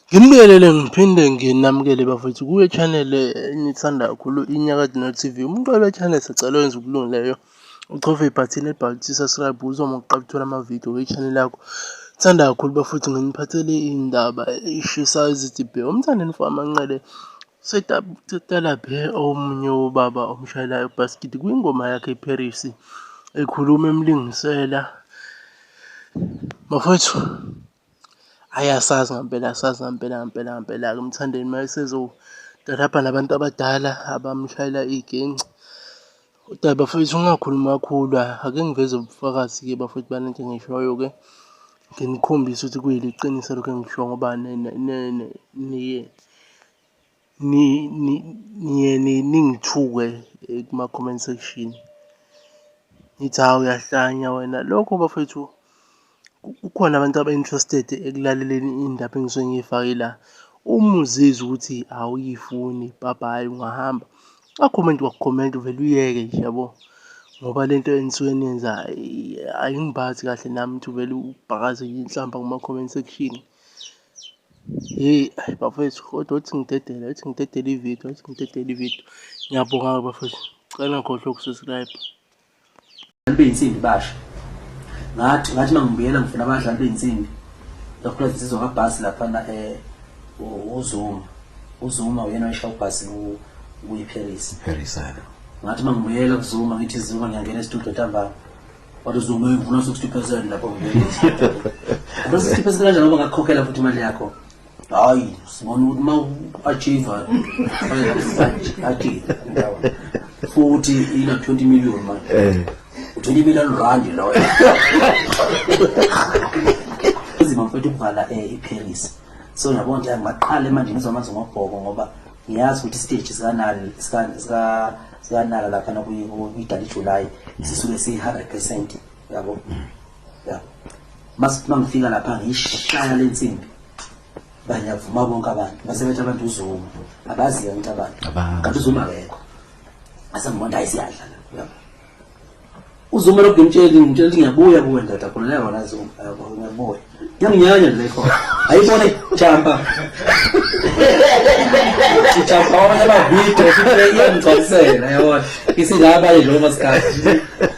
Ngimubingelele ngiphinde nginamukele bafethu kuyo channel enithanda kakhulu iNyakade No TV. Umuntu wale channel sicela wenze ukulungileyo uchofe ibhathini elibhalwe ukuthi subscribe uzoma ukuqala ukuthola amavidiyo kwi-channel yakho. Thanda kakhulu bafethu nginiphathele iy'ndaba ey'shisayo ezidibhe. Umthandeni Mfama Nqele Setalabhe omunye wobaba omshayelayo ubhasikidi kwingoma yakhe iParis ekhuluma emlingisela bafowethu hhayi asazi ngampela asazi ngampela ngampela ngampela-ke umthandeni uma esezotalabha nabantu abadala abamshayela iy'ginci Kodwa bafethu ungakhulumi kakhulu ake ngiveze ubufakazi-ke bafethu bale nto engishoyo-ke nginikhombise ukuthi kuyiliqiniso lokho engisho ngoba niye niye ningithuke eh, kuma-comment section nithi hawu uyahlanya wena lokho bafethu Kukhona abantu aba-interested ekulaleleni iy'ndaba engisuke ngiy'fake la. Uma uzizwa ukuthi awuyifuni bhabhayi ungahamba. Akhomenti wakukhomenta uvele uyeke nje yabo. Ngoba le nto enisuke niyenza ayingibazi kahle nami ukuthi uvele ubhakaze inhlamba kuma-comment section. Hheyi ayi bafwethu kodwa uthi ngidedele, uthi ngidedele ividiyo, uthi ngidedele ividiyo. Ngiyabonga-ke bafwethu, cela ngikhohlwe uku-subscribe. Abadlali beyinsimbi basha. Ngathi ngathi mangibuyela ngifuna abadlali beyinsimbi. Lokho sizwa kabhasi lapha na eh uZuma. uZuma uyena oyisha ubhasi ku kuyiParis Paris hayi ngathi mangibuyela kuZuma ngithi Zuma ngiyangena estudio ntambama wathi uZuma ngifuna 60% lapho ngibuyela 60% kanjani ngoba ngakukhokhela futhi imali yakho hayi sibona ukuthi uma u-achieve achieve futhi ina 20 million manje eh. u-20 million rand loyo izima mfethu ukuvala um eh, iparis so yabona nje ngaqale manje ngizwa amanzi ngobhoko ngoba ngiyazi ukuthi isiteji sikanali sikanala lapha nakuyidala ijulayi sisuke siyi-hundred percent yabo ya masithi mangifika lapha ngishaya lensimbi banyavuma bonke abantu basebethi abantu uzuma abaziyo into abantu kanti uzuma akekho asamubona hayi siyadla la uzuma lokhu ngimtsheli ngimtsheli ukuthi ngiyabuya kuwe ndoda khona leyo wona zuma ngiyabuya ngiyanginyanya le khona ayibone jamba jamba wona bavidiyo sibeyengigcwalisela yabona isilaba nje lomasikhathi